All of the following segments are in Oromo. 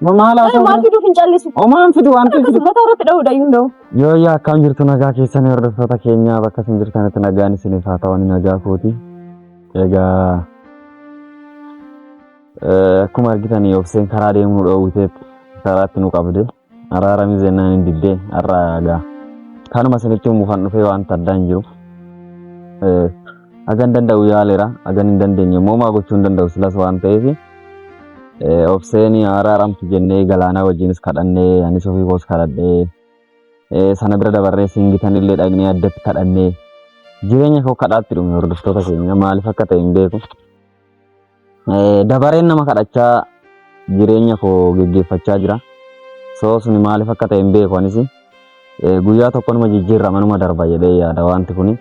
Maal haa ta'u? Maal fiduuf hin callisu? Omaan fidu waan ta'eef. Akkasuma mataa irratti dha'uudha iyyuu hin dha'u. Yoo yaa akkam jirtu nagaa keessanii hordoftoota keenyaa bakka isin jirtanitti nagaan isiniif haa ta'u nagaa kooti. Egaa akkuma argitan obseen karaa deemuu dhoowwiteetti karaatti nu qabde araaramii zennaan hin diddee har'a egaa kanuma isinitti muufan dhufee waan addaa hin jiru. Hagan danda'u yaaleera hagan hin dandeenye immoo maa gochuu hin danda'u silas waan ta'eef Obseen araaramtu jennee galaanaa wajjinis kadhannee anis ofii koos kadhadhee sana bira dabarree singitan illee dhaqnee addatti kadhannee jireenya koo kadhaatti dhume hordoftoota keenya maaliif akka ta'e hin beeku. Dabareen nama kadhachaa jireenya koo geggeeffachaa jira. Soo suni maaliif akka ta'e hin beeku anis. Guyyaa tokko numa jijjiirrama numa darba jedhee yaada wanti kuni.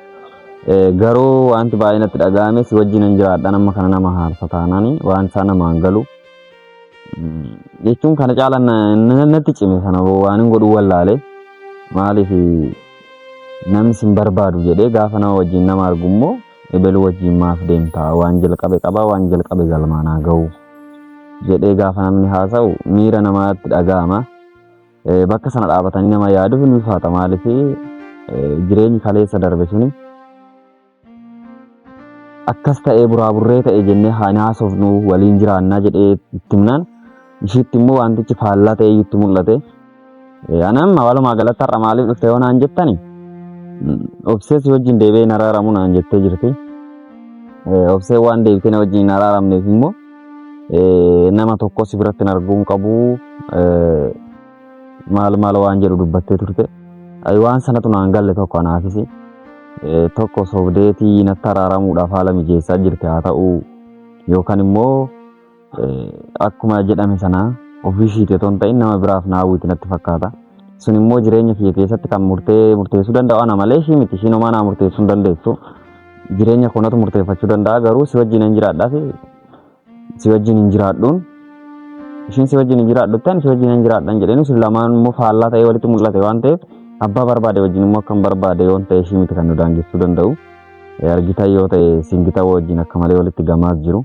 Garuu wanti baay'ee natti dhaga'ame si wajjin hin jiraadha nama kana nama haarsa taanaan waan isaa namaan galu. Jechuun kana caala natti cime sana waan hin godhu wallaale maaliif namni sin barbaadu jedhee gaafa nama wajjin nama argu immoo ebelu wajjin maaf deemta waan jalqabe qaba waan jalqabe galmaanaa ga'u jedhee gaafa namni haasa'u miira namaatti dhaga'ama. Bakka sana dhaabatanii nama yaaduuf ni ulfaata maaliif jireenyi kaleessa darbe suni akkas ta'ee buraaburree ta'e jennee haan haasofnu waliin jiraannaa jedhee itti himnaan ishiitti immoo wantichi faallaa ta'ee itti mul'ate. Anaan walumaa galatti har'a maaliif dhufte yoo naan jettani obsee si wajjin deebi'ee hin araaramu naan jettee jirti. Obsee waan deebitee na wajjin hin araaramneef immoo Eh, nama tokko si biratti hin arguun qabu eh, maal maal waan jedhu dubbattee turte Ay, waan sanatu naan galle tokko anaafisi Eh, tokko sobdeetii natti araaramuudhaaf haala mijeessaa jirti haa ta'u yookaan immoo eh, akkuma jedhame sana ofii ishiiti otoo hin ta'in nama biraaf na hawwiti natti fakkaata sun immoo jireenya kiyya keessatti kan murtee murteessuu danda'u ana malee ishii miti ishiin homaa naa murteessuu hin dandeessu Jireenya koo natu murteeffachuu danda'a garuu si wajjin hin jiraadhaa fi si wajjin hin jiraadhuun ishiin si wajjin hin jiraadhutti ani si wajjin hin jiraadhan jedheen isin lamaan immoo faallaa ta'ee walitti mul'ate waan ta'eef abbaa barbaade wajjin immoo akkam barbaade yoon ta'e ishii miti kan nu daangessuu danda'u. Argitan yoo ta'e singita wajjin akka malee walitti gamaas jiru.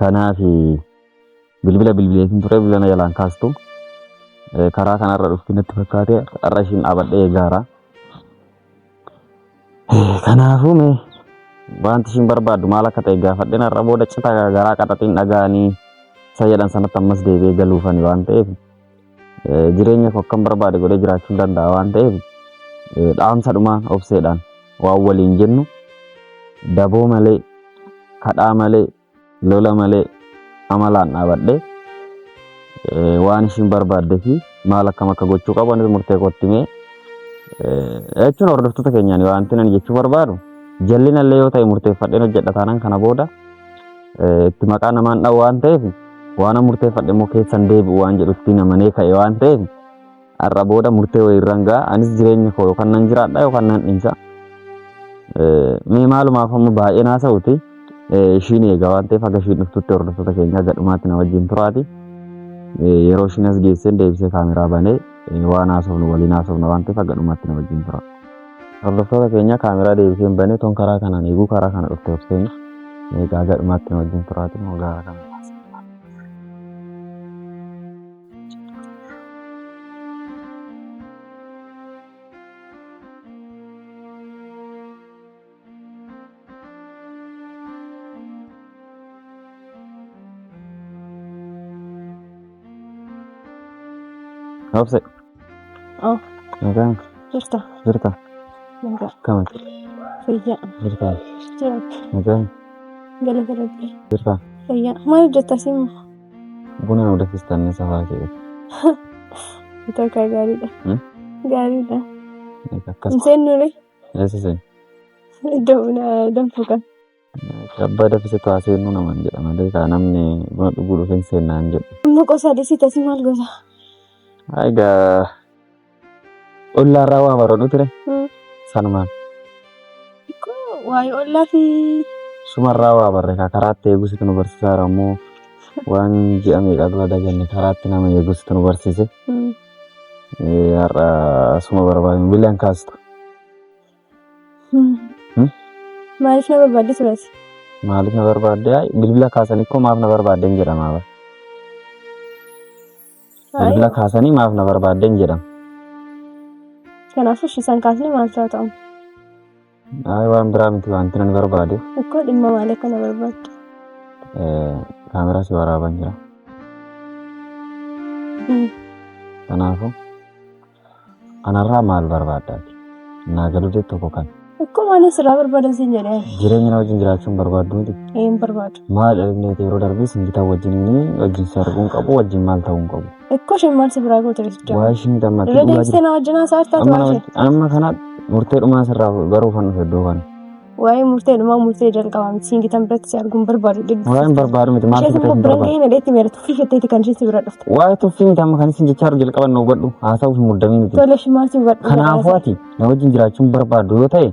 Kanaaf bilbila bilbileetiin ture bilbila na jalaan kaastu Eh, karaa kanarra dhufti natti fakkaate har'a ishiin dhaabadhee eegaara. Eh, Kanaafuu mee wanti ishiin barbaaddu maal akka ta'e gaafadheen har'a booda cita garaa qaxaxiin dhaga'anii isa jedhan sanatti ammas deebi'ee galuufani waan ta'eef jireenya koo akkan barbaade godhee jiraachuu danda'a waan ta'eef dhaamsa dhumaa obseedhaan waan waliin jennu daboo malee kadhaa malee lola malee amalaan dhaabadhee waan ishiin barbaadde fi maal akkam akka gochuu qabu anis murtee kootti mee jechuun hordoftoota keenyaan wanti ani jechuu barbaadu jallinallee yoo ta'e murteeffadheen hojjedha taanaan kana booda eh, itti maqaa namaan dha'u waan ta'eef waan murteeffadhe immoo keessan deebi'u waan jedhutti namanee ka'e waan ta'eef har'a booda murtee wayii irraan ga'a anis jireenya koo yookaan nan jiraadha yookaan nan dhiisa. Eh, Mee maalumaaf amma baay'een haasa'uti eh, ishiin eegaa waan ta'eef haga ishiin dhuftutti hordoftoota keenya haga dhumaatti na wajjin turaati. Eh, Yeroo ishiin as geesseen deebisee kaameraa banee eh, waan haasofnu waliin haasofna waan ta'eef haga dhumaatti na wajjin tura. Hordoftoota keenya kaameraa deebisee hin bane ton karaa kanaan eeguu karaa kana dhufte obseen eegaa gadhumaatti nu wajjin turaati moo gaara kana. Obse. Oh. Nagaan. Jirta. Jirta. Nagaa. Kama. Fayyaa. Jirta. Jiraatti. Nagaan. Gala galatti. Jirta. Fayyaa. Maal hojjetta simu? Buna nu dafistan ni safaa kee. Takka gaariidha. Gaariidha. Akkas. Hin seennuure. Eessa seenu? Iddoo buna danfuu kan. Abbaa dafisa taa seenuu naman jedha malee kaa namni buna dhuguu dhufe hin seennaan jedhu. Amma qosaa dhisita si maal gosa? Egaa ollaarraa waa baroodhu ture sanumaan Waa'ee ollaa fi sumarraa waa barre kaa karaatti eegusitu nu barsiisaara immoo waan ji'a meeqaa dura daganne karaatti nama eegusitu nu barsiise. Har'a asuma barbaadin bilaan kaasta. Maaliif na barbaadde turas? Maaliif na barbaadde? Ay, Bilbila kaasanii koo maaf na barbaadden jedhama. bara. Bilbila kaasanii maaf na barbaadden jedhama. Kanaafuu ishiisan kaasnee maal ta'a ta'u? Ayi waan biraa miti wanti nan barbaadu. Akkoo dhimma maal akka na barbaaddu? Kaameraa si waraaban jira. Kanaafuu anarraa maal barbaaddaati? Naa galuu jetti tokko kan. Akkoo maal asirraa barbaadan siin jedhee? Jireenya na wajjin jiraachuun barbaaddu miti. Ee hin barbaadu. Maal inni yeroo darbee sin gitaa wajjin wajjin si arguun qabu wajjin maal ta'uu hin qabu. Ikkoo isheen maal si biraa goote riicha? Waa ishiin gammaatti Irra dhugaa deebistee jirti. na wajjin haasaa jirtaa Amma tu'aa ishee? amma kana murtee dhumaa sirraa baruuf kan dhufe iddoo kana. Waa'ee murtee dhumaa murtee jalqabaa miti siin gitan biratti si arguun barbaadu dhibbi. Waa hin barbaadu miti maal Ishees sibiratti immoo hin biran barbaadu. gahee nadheetti meera tuffii jetteeti kan isheen si bira dhufte. Waa'ee tuffii miti amma kan isin jechaa jiru jalqaban na hubadhu haasa'uuf hin muddamii miti. Tole ishee maal si hubadhu? Kanaafuu ati na wajjin jiraachuun barbaaddu yoo ta'e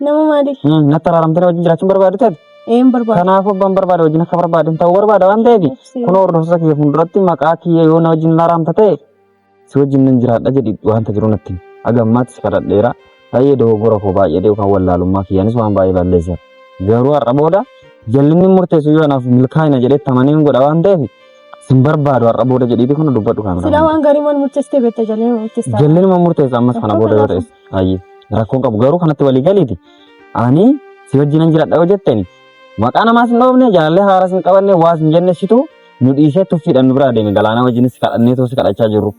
Nama maaliif? Hmm, natti araaramtee na wajjin jiraachuun barbaadu ta'e Een barbaada. kanaafuu abbaan barbaada wajjin akka barbaadin ta'uu barbaada waan ta'eef Obsee. kun hordoftoota kiyya fuulduratti maqaa kiyya yoo na wajjin na araamta ta'e si wajjin nan jiraadha jedhi wanta jiru natti himi. Haga ammaatti si kadhadheera baay'ee dogoggora koo baay'ee deebi'u kan wallaalummaa kiyyaanis waan baay'ee balleessa garuu har'a booda jallinni murteessu yoo anaaf milkaa'ina jedhee tamanee hin godha waan ta'eef sin barbaadu har'a booda jedhiiti kun dubbadhu kan Silaa waan gaarii maal murteessitee beekta jalleen murteessaa. jallinuma murteessa ammas kana booda yoo ta'es Ayyee rakkoon qabu garuu kanatti walii galiiti. Ani si wajjinan jiradha yoo jetteni maqaa namaas hin dhoofne jaalallee haaraas hin qabanne waas hin jenne situ nu dhiisee tuffiidhaan nu biraa deeme galaanaa wajjinis kadhannee too si kadhachaa jirru.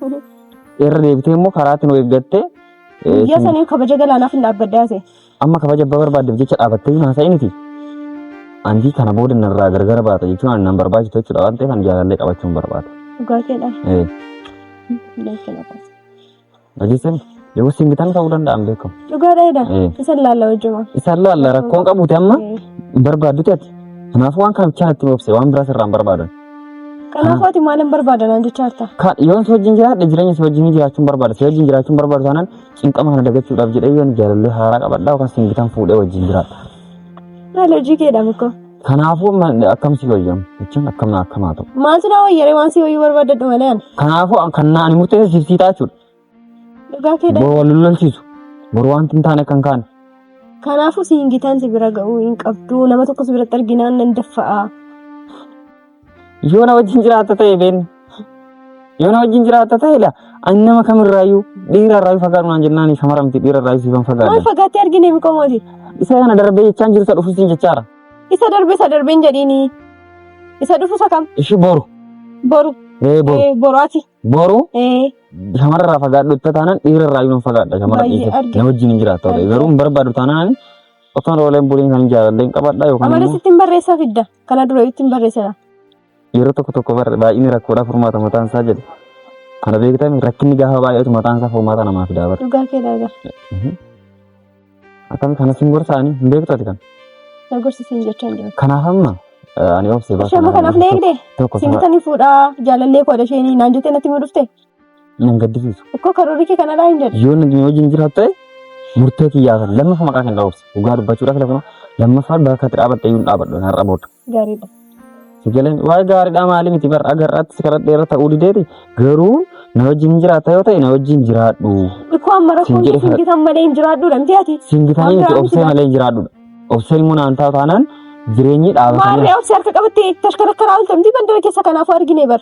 Irra deebitee immoo karaatti nu eeggattee eh, Guyyaa sin- saniin kabaja galaanaaf hin dhaabbaddaa ta'e. amma kabaja abbaa barbaaddeef jecha dhaabattee hin haasa'initi. Antii kana booda narraa gargara baata jechuun ani nan barbaachisu jechuudha waan ta'eef ani jaalallee qabachuun barbaada. Dhugaa keedhaan. Eh. Dhugaa keedhaan. Dhageessan yoo singitan ta'uu danda'an beekamu. Dhugaa dheeda. Eh. Isa laalla wajjuma. Isaan laalla rakkoon qabuuti amma hin barbaadduti ati. Kanaafuu waan kana bichaan itti boobse waan biraas irraa hin barbaadan. Kanaafuu ati maal hin barbaadan an jechaa jirta. Ka- Yoon si wajjin jiraadhe jireenya si wajjin jiraachuun barbaada. Si wajjin jiraachuun barbaadu taanaan cinqama kana dagachuudhaaf jedhee yoon jaalallee haaraa qabadhaa yookaan singitan fuudhee wajjin jiraadha. Maal hojii keedha mukko. Kanaafuu amma akkam si wayya jechuun akkam na akkamaa ta'u. Maaltu naa wayyaree waan si wayyuu barbaadadhu malee ani. Kanaafuu an- kan na- ani murteessa siif sii taachudha. Dhugaa kee dha. Bor wal lolchiisu. Bor wanti hin taane kan kaane. Kanaafuu si hin gitaan si bira ga'uu hin qabdu. Nama tokko si biratti arginaan nan daffa'a. Yoo na wajjin jiraatta ta'e beenna. Yoo na wajjin jiraatta ta'e dha. Ani nama kamirraayyuu dhiira irraa fagaadhu naan jennaan shamara miti dhiira irraa siifan Maal fagaadha. fagaattee argine miqoo mooti? Isa kana darbee jechaan jiru isa dhufuus hin jechaara. Isa darbe isa darbe hin jedhiini. Isa dhufu isa kam? Ishii boru. Boru. Ee boru. Eh, Boru ati. Boru Eh, shamara irraa fagaadhu itti taanaan dhiira irraa hin fagaadha shamara Baay'ee dhiisa. arge. Na wajjin hin jiraatta ta'e garuu hin barbaadu taanaan Otoon ooleen buliin kan jaalallee hin qabadhaa yookaan Amala immoo sittiin barreessaa fidda. Kana dura ittiin barreessera. yeroo tokko tokko barre baay'inni rakkoodhaa furmaata mataan isaa jedhe. Kana beektame rakkinni gaafa baay'atu mataan isaa furmaata namaa fidaa bara. Dhugaa kee daagaa. Akkami kanas hin gorsaanii hin beektu ati kan. Na gorsisiin jechaa hin jiru. Kanaaf amma eh, ani obsee Ishee amma kanaaf na eegde. Tokko Siin bitanii fuudhaa jaalallee koo dasheenii naan jettee natti himuu dhufte. Nan gaddisiisu. Akkoo karoorri kee kanarraa hin jedhu. Yoo nagni wajjin jiraatu ta'e murtee kiyyaa kan lammaffaa maqaa kan dhaabse dhugaa dubbachuudhaaf lafa lammaffaa bakka itti dhaabatte iyyuu hin dhaabadhu har'a booda. Gaariidha. Sigaleen waa'ee gaariidhaa maali miti bar agarraatti si karadhee irra ta'uu dideeti garuu na wajjin jiraata yoo ta'e na wajjin jiraadhu. Akkoo amma rakkoon Siin jedhe kee kana- singitan malee hin jiraadhuudha miti ati. Siin bitanii miti Waan obsee malee hin jiraadhudha. Obseen immoo naan taa'u taanaan jireenyi dhaabatanii Maarree obsi harka qabattee tashkarakkaraa oltamti bandara keessa kanaafuu argine bar.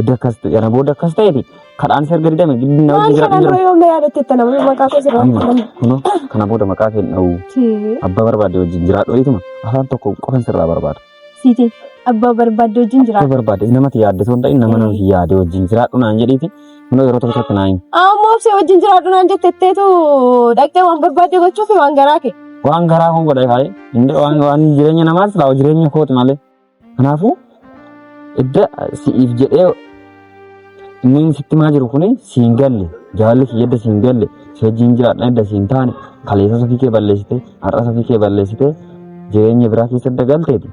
Edda akkas ta'e kana booda akkas ta'eeti kadhaan si arga didame gidduu na Maal wajjin jira kana jira. dura yoom na yaadatte itti nama maqaa koo sirraa Amma fudhanne. kunoo kana booda maqaa kee hin dha'u. Tee. Abbaa barbaade wajjin jiraadhu jeetuma afaan tokko qofan sirraa barbaada. Siiti abbaa barbaadde wajjin Akka jiraadha. barbaade namatti yaadde osoo hin ta'in nama namatti yaade wajjin jiraadhu naan jedhiiti kunoo yeroo tokko tokko naan Ammoo obsee wajjin jiraadhu naan jette itteetu dhaqxee waan barbaadde gochuufi waan garaa kee. waan garaa kun godhee kaa'ee inni waan waan jireenya namaas laawa jireenya kooti malee Kanaafuu idda si'iif jedhee inni sitti maa jiru kuni siin galle jaalalli kiyya idda siin galle si wajjin jiraadha idda siin taane kaleessa safii kee balleessite har'a safii kee balleessite jireenya biraa keessa idda galteeti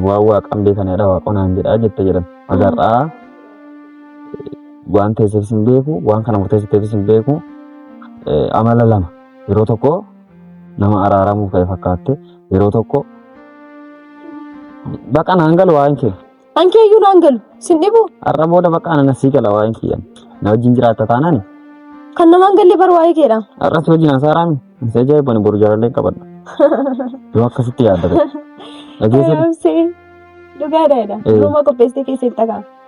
waan waaqan beekanidha waaqonaan jedhaa jette jedhan agarraa waan teesseefis hin beeku waan kana murteessiteefis hin beeku amala lama yeroo tokko Nama araaramuuf ka'e fakkaatte yeroo tokko baqa naan galu waa'een kee. Ankee iyyuu naan galu. Sin dhibu. Har'a booda baqa ana nasii gala waa'een kiyyan. Na wajjin jiraatta taanaan Kan namaan galle bar waa'ee keedha. har'a si wajjin haasaaraa mi? Isa ajaa'ibani boru jaalallee qabadha. Yoo akkasitti yaadda ta'e. Dhageessan Ayoomsee. Dhugaadha jedha. Eh. Durumaa qopheessitee keessatti dhagaa.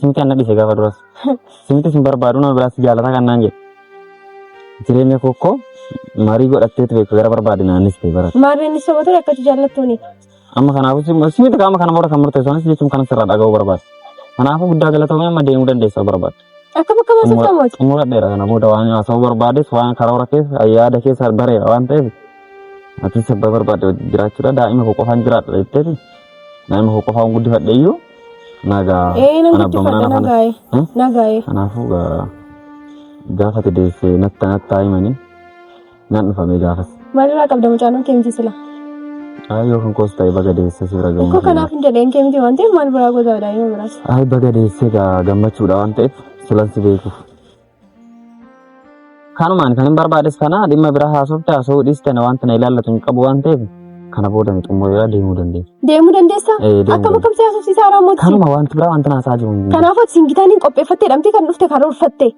Simti anna dhise gaafa duras. Simti sin barbaadu nama biraatti jaalataa kan naan jedhe. Jireenya kokkoo marii godhattee ture gara barbaade naanis ta'e barate. Maarreen ni soba ture akkati jaallattuuni. Amma kanaafuu sim- simti qaama kana booda kan murteessu anis jechuun kanas irraa dhaga'uu barbaade. Kanaafuu guddaa galatoomee amma deemuu dandeessaa barbaade. Akka bakka baasa qaamati. Xumuradheera kana booda waan haasa'uu barbaades waan karoora keessa yaada keessa bareera waan ta'eef atis abbaa barbaade wajjin jiraachuudha daa'ima koo qofaan jiraadha jetteeti daa'ima koo qofaan guddifadhe iyyuu Nagaa. Ee nan Ana abbaa manaa guddifadha naaf nagaa'e Hmm? nagaa'e. Kanaafuu gaa- gaafa ati deesse natta natta himanii nan dhufamee gaafas. Maalirraa qabda mucaan kee miti sila? Ayi yoo kan koos ta'e baga deesse si bira Koo gammachuu. kanaaf hin jedheen kee miti waan ta'eef maal biraa goota jedhaa yoo biraas. Ayi baga deesse gaa gammachuudha waan ta'eef silan si beekuuf. Kanumaan kan hin barbaades kana dhimma biraa haasofte haasa'uu dhiiste na wanta na ilaallatu hin qabu waan ta'eef kana booda ni xumureera deemuu dandeessa. Deemuu dandeessa? Eh, deemuu Akkam dandeessa. akkamsi haasofsiisaa irraa mootii? Kanuma wanti biraa wanti naasaa jiru. hin jiru. Kanaafuu isin gitaan hin qopheeffattee dhamtee kan dhufte karoorfatte.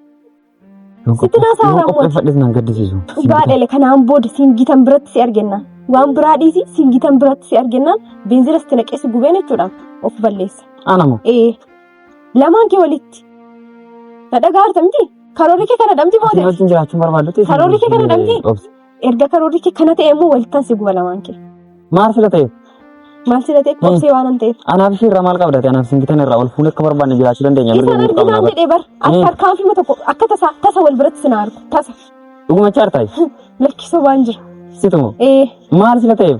Yoo sitti naasaa qophee- yoo raawwatu. qopheeffadhes nan gaddisiisu. Baadhele kanaan booda siin gitan biratti si argennaan. Waan biraa dhiisi siin gitan biratti si argennaan beenzila sitti naqeessi gubeen jechuudha. Of balleessa. Anamo Ee Lamaan kee walitti. Na dhagaarta miti? Karoorri kee kana dhamti booda. Wajjin jiraachuu barbaaddutti. Karoorri kee kana dhamti? Erga karoorri kee kana ta'e immoo walittan si guba lamaan kee. Maal sila ta'eef? Maal sila ta'eef obsee waan an ta'eef. Anaaf ishee irraa maal qabdate? Anaaf isin gitan irraa ol fuunee akka barbaanne jiraachuu dandeenya. Isa nan dinaan jedhee bar. Akka harkaan filma tokko akka tasa tasa wal biratti sin argu. Tasa. Dhuguma chaartaay. Lakkisoo waan jira. Situmo. Ee. Maal sila ta'eef?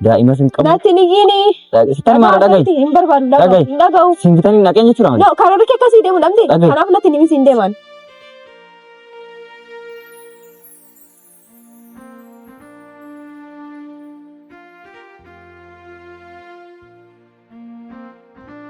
Daa'imas hin qabu. Natti hin iyyini. Sitan maal dhagahi? Natti hin barbaadu. Dhagahi. Dhagahi. Hin dhagahu. Siin bitan hin dhaqeen jechuudha malee. No, kan warri kee akkasii deemu dhabde. Dhagahi. Kanaaf natti hin himis hin deeman.